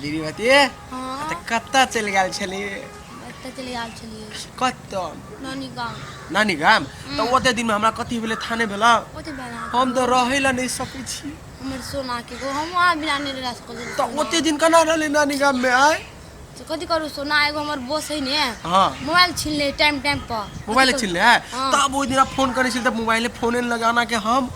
दीदी बतिए हाँ तऽ कतऽ चलि गेल छलिए एतऽ चलि गेल छलिए कतऽ नानी गाम नानी गाम तऽ ओते दिनमे हमरा कथी भेलै थाने भेलौ ओते भेला हम तऽ रहै लए नहि सकै छी हमर सोना के गो हम आ बिना नहि रह सको तऽ ओते दिन केना रहलै नानी गाममे आय तो कथी करू सोना एगो हमर बोस है ने हाँ मोबाइल छीन ले टाइम टाइम पर मोबाइल छीन ले है हाँ। तब ओहि दिन फोन करै छलिए तऽ मोबाइले फोने लगाना के हम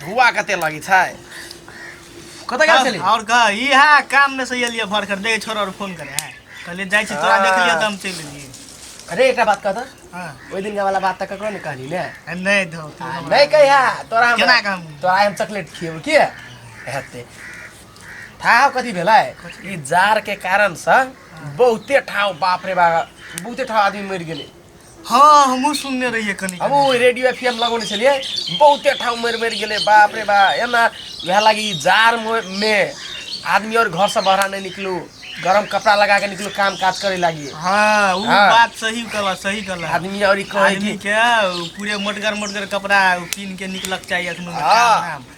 धुआ कते लगी छै कतऽ गेल छली और का ई है काम में से एलिए भर कर दे छोरा और फोन करे है कहले जाय छी तोरा देख लियो त हम चल लिए अरे एकटा बात कहता हां ओइ दिन वाला बात त ककरो ने कहली ने नहीं धो नहीं कहि है तोरा हम केना काम तोरा हम चॉकलेट खिएबो के हेते था कथी भेलै ई जार के कारण से बहुते ठाव बाप रे बाप बहुते ठाव आदमी मरि गेलै हाँ हमहूँ सुनने रहिए कनि हम ओ रेडियो एफ एम लगौने छलियै बहुते ठाउँ मरि मरि गेलै बाप रे बा एना वएह लागि ई जाड़मे आदमी आओर घरसँ बाहर नहि निकलू गरम कपड़ा लगा के निकलू काम काज करे लागी हाँ वो हाँ। बात सही कहला सही कहला आदमी और कहे आदमी कि के पूरे मोटगर मोटगर कपड़ा पीन के निकलक चाहिए अखनो हाँ। काम धाम।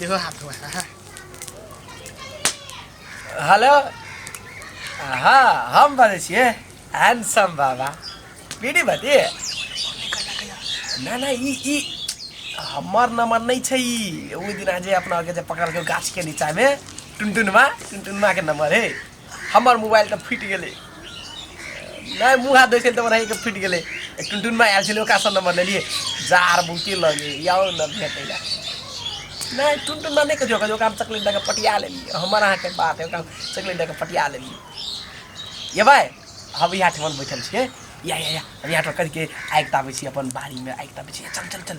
দেহ হাত हेलो हाँ हम बजे छिए हैंडसम बाबा बीडी बजे ना ना ई ई हमर नंबर नहीं छै ई ओ दिन जे अपना के जे पकड़ के गाछ के नीचा में टुनटुनमा टुनटुनमा के नंबर है हमर मोबाइल तऽ फुटि गेलै नहि मुँह हाथ धोइ छलै तऽ रहैके फुटि गेलै टुनटुनमा आयल छलै ओकरासँ नम्बर लेलियै जार बहुते लगे आउ ने भेटै लए नहि टुनटुनमा नहि कहियो कहियो ओकरा चकलेट दए कऽ पटिया लेलियै हमर अहाँके बात है ओकरा चकलेट दए कऽ पटिया लेलियै अयबै हम इएह ठमन बैठल छियै या या या हम इएह ठमन करिके आगि तापै छियै अपन बाड़ीमे आगि तापै छियै चल चल चल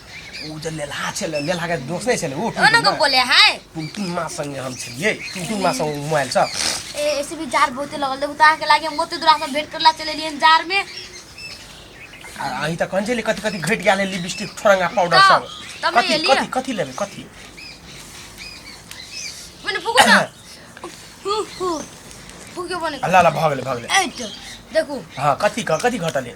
ऊ जे लेलहा छलै लेलहा के दोस्त नहीं छलै ऊ ओ न को बोले है टुनटुन माँ संगे हम छलिए टुनटुन माँ संग मोबाइल सब ए ऐसे भी जार बहुते लगल देखू तार के लागे हम बहुते दूरा से भेंट करला चले लिए जार में आ अही त कौन छलै कथि कथि घट गेल लिपस्टिक ठोरंगा पाउडर का? सब तब कथि लेलियै? कथि कथि लेबै कथि मैंने फूको ना हु हु फूके बने अल्लाह अल्लाह भऽ गेलै भऽ गेलै एट देखू हाँ कथि क कथि घटले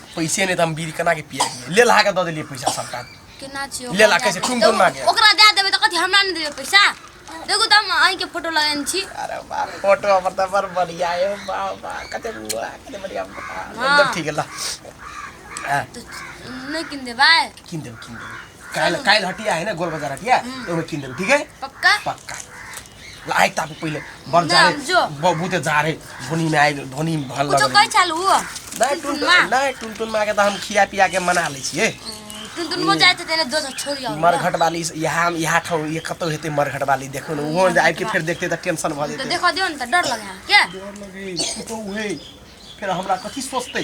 पैसे नहीं तो हम बीड़ी कना के पिया दिए ले लहा के दे दिए पैसा सबका केना छी ले ला कैसे ठुम ठुम मांगे ओकरा दे देबे त कथि हमरा नै देबे पैसा देखू त हम आइ के फोटो लगेन छी अरे बाप फोटो हमर त बर बढ़िया है बाप बा कते बुआ कते बढ़िया एकदम ठीक है ला नहीं किन दे भाई किन दे किन दे काल काल हटिया है ना गोल बाजार हटिया तो मैं किन दे ठीक है पक्का पक्का लाइ ताप पहिले बन जा रे जो। बबू ते जा रे धोनी में आइ धोनी में भल कुछो लग कहै छल ओ नहीं टुन टुनटुनमा नहीं टुन टुन माँ के तो हम खिया पिया के मना ले छिए टुनटुनमा जाइत हेतै ने दोसर छोड़ि आउ मरघट वाली यहाँ यहाँ ठाउँ ये कतौ हेतै मरघट वाली देखो ने वहाँ आबि के फेर देखते तऽ टेंशन भऽ तऽ जेतै देखऽ दियौ ने तऽ डर लगै है के डर लगे ई तो उहे फिर हमरा कथी सोचते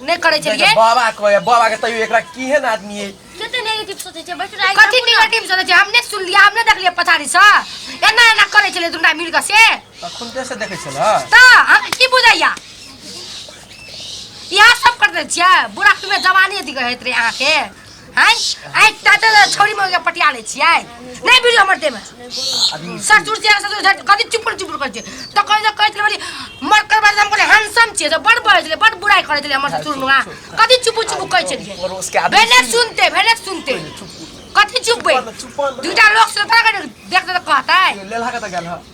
नहि करै छलिए जैसे बाबा कहै बाबा के तैयो एकरा केहन आदमी है कते नेगेटिव सोचै छै बैठ राइ कथी नेगेटिव सोचै छै हम नहि सुनलिए हम नहि देखलिए पछाड़ी से एना एना करै छलिए दुनटा मिल के से तखन से देखै छल त हम की बुझैया इहा सब कर दै छियै बुढ़ा तुम्हें जवानी अथी कहैत रहे अहाँ के हैं आइ ताते ला छोरी में पटिया ले छियै नै बिड़ी हमर दे में ससुर जे ससुर झट कथि चुपड़ चुपड़ कर छै त कहै जे कहै छलै मर कर बाद हमको हैंडसम छै बड़ बड़ छलै बड़ बुराई करै छलै हमर ससुर नुआ कथि चुपड़ चुपड़ कहै छलियै भेले सुनते भेले सुनते कथि चुप बे दूटा लोग से तोरा देख दे कहतै लेलहा कत गेल ह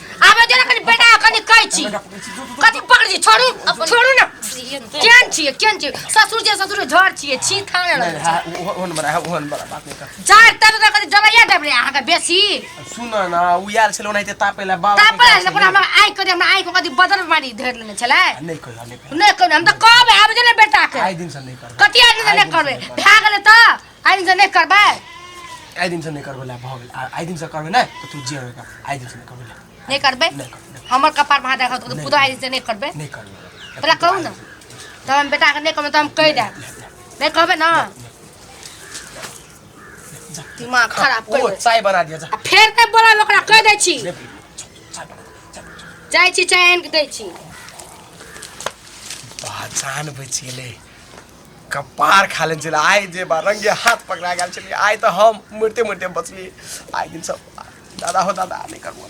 आबे दे ना कनी बेटा कनी कहै छी कथी पकड़ दी छोड़ू छोड़ू ना केन छिए केन छिए ससुर जे ससुर झर छिए छी थाने नहीं, रह हाँ, वो- वो नंबर है, वो नंबर है, बात नहीं कर। जाय तब तक कथी जबैया देब रे अहाँ के बेसी सुन ना उ यार छलो नहीं ते तापे ला बाबा तापर आइल पर हमरा आइ करे हमरा आइ को कथी बदल मारी धर लेने छलै नहीं कर नहीं कर नै कहू हम त कहबै आबे दे ना बेटा के आई दिन से नहीं कर कथी आदमी ने करबे भए गेलै त आइ दिन से नहि करबै आइ दिन से नहि करबै ला भऽ गेल आ- आइ दिन से करबै नहि तऽ तू जे होगा आइ दिन से नहि करबै ला नहि करबै नहि करबै नहि हमर कपार पर हाथ राखत तऽ पुतहु आइ दिन से नहि करबै नहि करबै तोरा कहू ने तब हम बेटाके नहि कहबै तऽ हम कहि देब नहि कहबै ने दिमाग खराब ओ करि चाय बना दिया जा आ फेर नहि बोलब ओकरा कहि दै छी ले, चाय बना दिया, चाय बना दिया। जाइ छी चाय आनि कऽ दै छी पहचान बचि गेलै कपार खा लेने छलै आइ जे बा रंगे हाथ पकड़ा गेल छलियै आइ तऽ हम मरिते मरिते बचलियै आइ दिन सब दादा हो दादा नहि करू